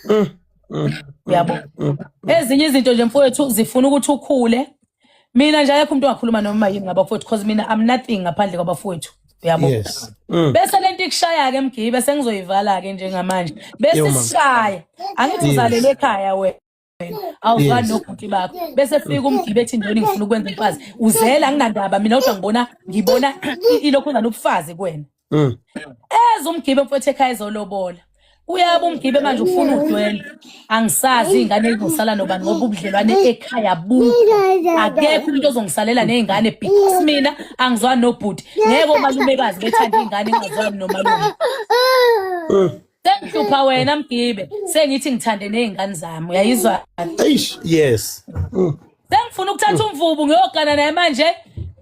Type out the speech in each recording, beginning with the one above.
mm, mm, yabo mm, mm. ezinye izinto nje mfowethu zifuna ukuthi ukhule mina nje ayekho umuntu ongakhuluma noma yini ngabafowethu because mina i'm nothing ngaphandle kwabafowethu uyabo yes. mm. bese lento ikushaya ke mgibe sengizoyivala ke njengamanje bese sishaya angithi uzalele ekhaya wena wena awuzwani nobhuti bakho bese fika umgibe ethi ndoni ngifuna ukwenza umfazi uzela anginandaba mina kodwa ngibona ngibona ilokhu nganobufazi kuwena mm. eze umgibe mfowethu ekhaya ezolobola uyaba umgibe manje ufuna udwele angisazi iy'ngane ezizosala nobani ngoba ubudlelwane ekhaya bukho akekho umuntu ozongisalela ney'ngane because mina angizwani nobhuti ngeke omalumekazi bethanda iy'ngane engazwani nomalume mm. sengihlupha wena mgibe sengithi ngithande nezingane zami uyayizwa eish yes sengifuna ukuthatha umvubu ngiyogana naye manje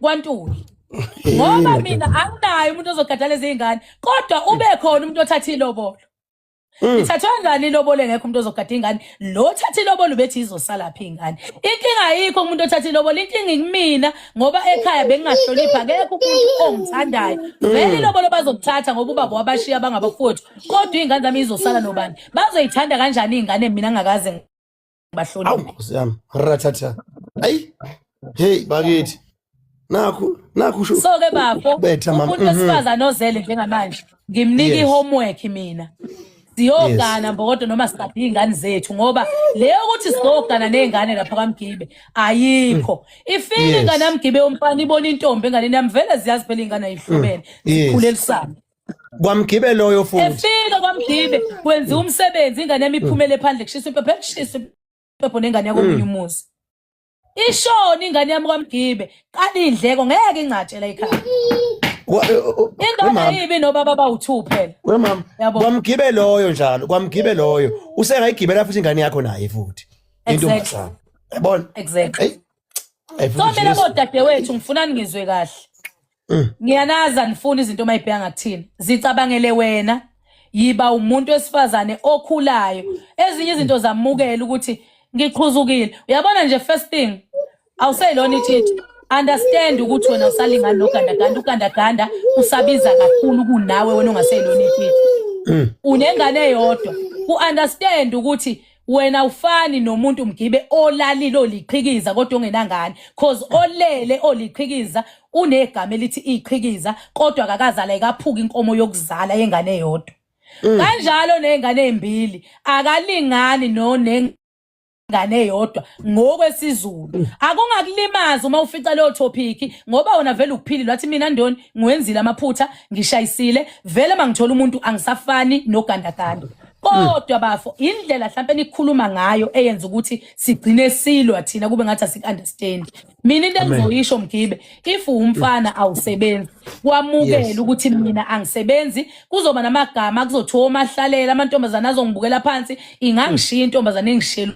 kwantuli ngoba mina anginaye umuntu ozogada lezi zingane kodwa ube khona umuntu othatha ilobolo Mm. Ithathwa ngani ilobole ngekho umuntu ozogada ingane lo othatha ilobolo ubethi izosala phi ingane inkinga ayikho umuntu othatha ilobolo inkinga ikumina ngoba ekhaya bengingahloniphi akekho umuntu ongithandayo vele ilobolo bazokuthatha ngoba ubaba wabashiya bangabafowethu kodwa iy'ngane zami izosala nobani bazoyithanda kanjani iy'ngane mina ngakaze ngibahloniphe awu nkosi yami rathatha ayi heyi bakithi nakho nakho so ke bafo umuntu mhm. wesifazane ozele njengamanje ngimnika ihomework mina siyogana mbokodo noma sikaphi iy'ngane zethu ngoba leyo ukuthi sizogana ney'ngane lapha kwamgibe ayikho mm. ifile ingane yamgibe yomfana ibona intombi enganeni yami vele ziyazi phela iy'ngane ayihlobene mm. zikhule elisana kwamgibe loyo futhi efika kwamgibe kwenziwa umsebenzi ingane yami iphumele phandle kushisa impepho ekushisa impepho nengane yakomunye mm. umuzi ishoni ingane yami kwamgibe qala indleko ngeke ingcatshela ikhaya indoda yibi nobaba bawu-two phela wemama Yabo. kwamgibe loyo njalo kwamgibe loyo usengayigibela futhi ingane yakho naye futhi intombazana yabona exactly Eyi, eyi, so futhi mina Jesu. bodadewethu ngifuna ningizwe kahle mm. ngiyanazi anifuni izinto uma ibheka ngakuthina zicabangele wena yiba umuntu wesifazane okhulayo ezinye izinto zamukela ukuthi ngiqhuzukile uyabona nje first thing awuseyilona ithithi understand ukuthi wena usalingani nogandaganda ugandaganda usabiza kakhulu kunawe wena ongaseyilona ithithi mm. unengane eyodwa ku-understand ukuthi wena ufani nomuntu mgibe olalile oliqhikiza kodwa ongenangane cause olele oliqhikiza unegama elithi iqhikiza kodwa akakazala ikaphuka inkomo yokuzala yengane yodwa mm. kanjalo nezingane ezimbili akalingani no ngane yodwa ngokwesizulu mm. akungakulimaza uma ufica leyo topic ngoba wona vele ukuphilile wathi mina ndoni ngiwenzile amaphutha ngishayisile vele mangithola umuntu angisafani nogandaganda kodwa bafo indlela mhlawumbe nikhuluma ngayo eyenza ukuthi sigcine silwa thina kube ngathi asikuunderstand mina into engizoyisho mgibe if umfana awusebenzi kwamukela ukuthi mina angisebenzi kuzoba namagama kuzothiwa omahlalela amantombazane azongibukela phansi ingangishiya intombazane engishela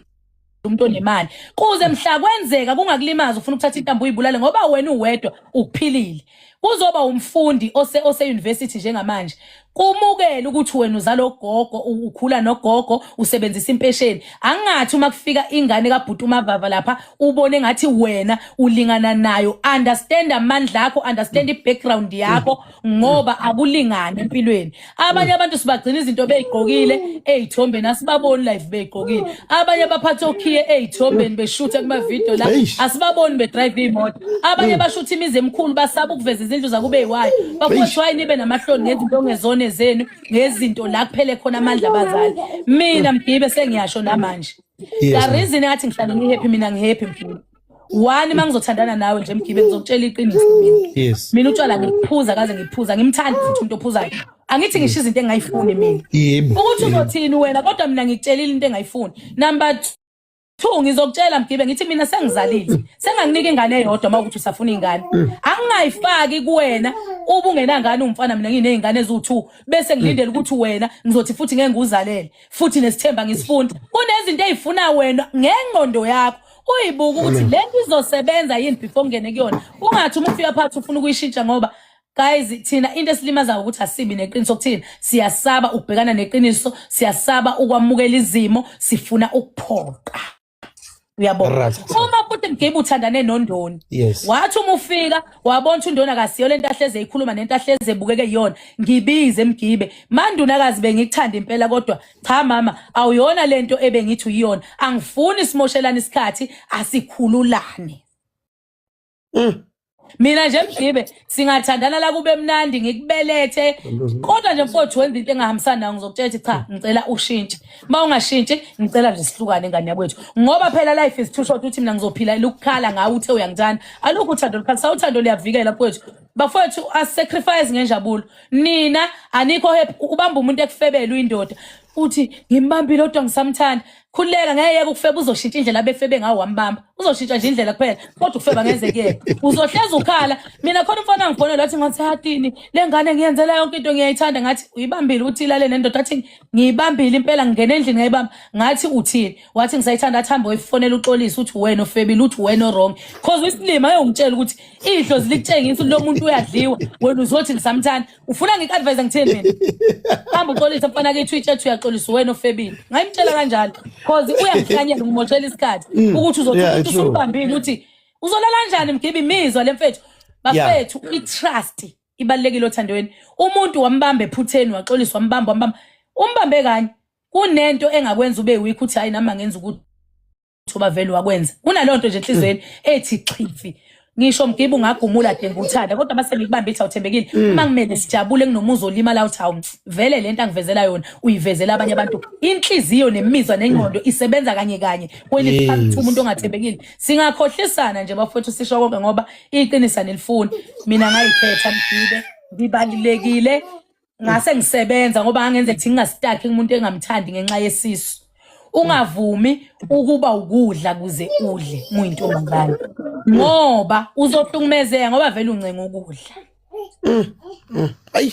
umuntu onemali kuze mhla kwenzeka kungakulimaza ufuna ukuthatha intambo uyibulale ngoba wena uwedwa ukuphilile kuzoba umfundi ose ose university njengamanje kumukele ukuthi wena uzalo gogo ukhula nogogo usebenzisa impesheni angathi uma kufika ingane kabhuti umavava lapha ubone ngathi wena ulingana nayo understand amandla akho understand i background yakho ngoba akulingani empilweni abanye abantu sibagcina izinto beyigqokile ezithombeni asibaboni live beyigqokile abanye baphatha okhiye ezithombeni beshuthe kuma video la asibaboni be drive imoto abanye bashutha imizi emkhulu basaba ukuveza izindlu zakube eyiwayo bakuthi why nibe namahloni ngezinto ongezone zenu ngezinto la kuphele khona amandla abazali mina mgibe sengiyasho namanje the reason athi ngihlale ngihappy mina ngihappy mfowethu one uma ngizothandana nawe nje mgibe ngizokutshela iqiniso yes mina utshwala ngiphuza kaze ngiphuza ngimthanda futhi umuntu ophuzayo angithi ngisho izinto engayifuni mina yebo ukuthi uzothini wena kodwa mina ngikutshelile into engayifuni number 2 ngizokutshela mgibe ngithi mina sengizalile senganginika ingane eyodwa uma ukuthi usafuna ingane mm. angingayifaki kuwena uba ungenangane umfana mina nginezingane eziwu2 bese ngilindele ukuthi wena ngizothi futhi ngeke nguzalele futhi nesithemba ngisifunda kunezinto ezifuna wena ngengqondo yakho uyibuka ukuthi le nto izosebenza yini before ungene kuyona ungathi uma ufika phakathi ufuna ukuyishintsha ngoba guys thina into esilimazayo ukuthi asibi neqiniso kuthina siyasaba ukubhekana neqiniso siyasaba ukwamukela izimo sifuna ukuphoqa uyabona uma futhi mgibe uthandane nondoni wathi uma ufika wabona ukuthi undoni akasiyo lento ahleze ikhuluma nento ahleze ebukeke yona ngibize mgibe mandunakazi bengikuthanda impela kodwa cha mama awuyona lento ebengithi uyiyona angifuni simoshelane isikhathi asikhululane mm. mina nje mgibe singathandana la kube mnandi ngikubelethe kodwa nje mfowethu wenza into engahambisani nayo ngizokutshela ukuthi cha ngicela ushintshe uma ungashintshi ngicela nje sihlukane ngane yakwethu ngoba phela life is too short ukuthi mina ngizophila ukukhala ngawe uthe uyangithanda alukho uthando lukhalisa uthando liyavikela mfowethu bafowethu asacrifice ngenjabulo nina anikho happy ubamba umuntu ekufebela uyindoda uthi ngimbambile kodwa ngisamthanda khuleka ngeke ukufeba uzoshintsha indlela abefebe ngawo wambamba uzoshintsha nje indlela kuphela kodwa ukufeba ngeze kuyena uzohleza ukhala mina khona umfana ngifonela athi ngathi hatini le ngane ngiyenzela yonke into ngiyayithanda ngathi uyibambile uthi ilale nendoda athi ngiyibambile impela ngingena endlini ngayibamba ngathi uthini wathi ngisayithanda athi hambe uyifonela uxolisa uthi wena ofebile uthi wena wrong cause isilima ayongitshela ukuthi idlozi likutshengisa lo muntu uyadliwa wena uzothi ngisamthanda ufuna ngiku-advise ngithini mina hamba uxolise mfana ke twitch ethi uyaxolisa wena ofebile ngayimtshela kanjalo cause uyangihlanyela ngimoshela isikhathi mm. ukuthi uzothi umuntu usumbambile ukuthi uzolala njani mgibe imizwa le mfethu bafethu i-trust ibalulekile othandweni umuntu wambamba ephutheni waxolisa wambamba wambamba umbambe kanye kunento engakwenza ube weak uthi hayi nami angenza ukuthi lutho bavele wakwenza kunaleyo nto nje enhlizweni ethi chifi ngisho mgibe ungagumula denga uthanda kodwa mase ngikubambe ithi awuthembekile mm. uma ngimele sijabule nginomuzi olimala uthi hawu vele le nto angivezela yona uyivezela abanye abantu inhliziyo nemizwa nengqondo isebenza kanye kanye kwelithi umuntu ongathembekile singakhohlisana nje bafowethu sisho konke ngoba iqinisa nelifuni mina ngayikhetha mgibe ngibalulekile ngase ngisebenza ngoba angenze ukuthi ngingasitaki umuntu engamthandi ngenxa yesisu ungavumi ukuba ukudla kuze udle muyintombazane ngoba uzohlukumezeka ngoba vele uncenga ukudla mm, mm. ayi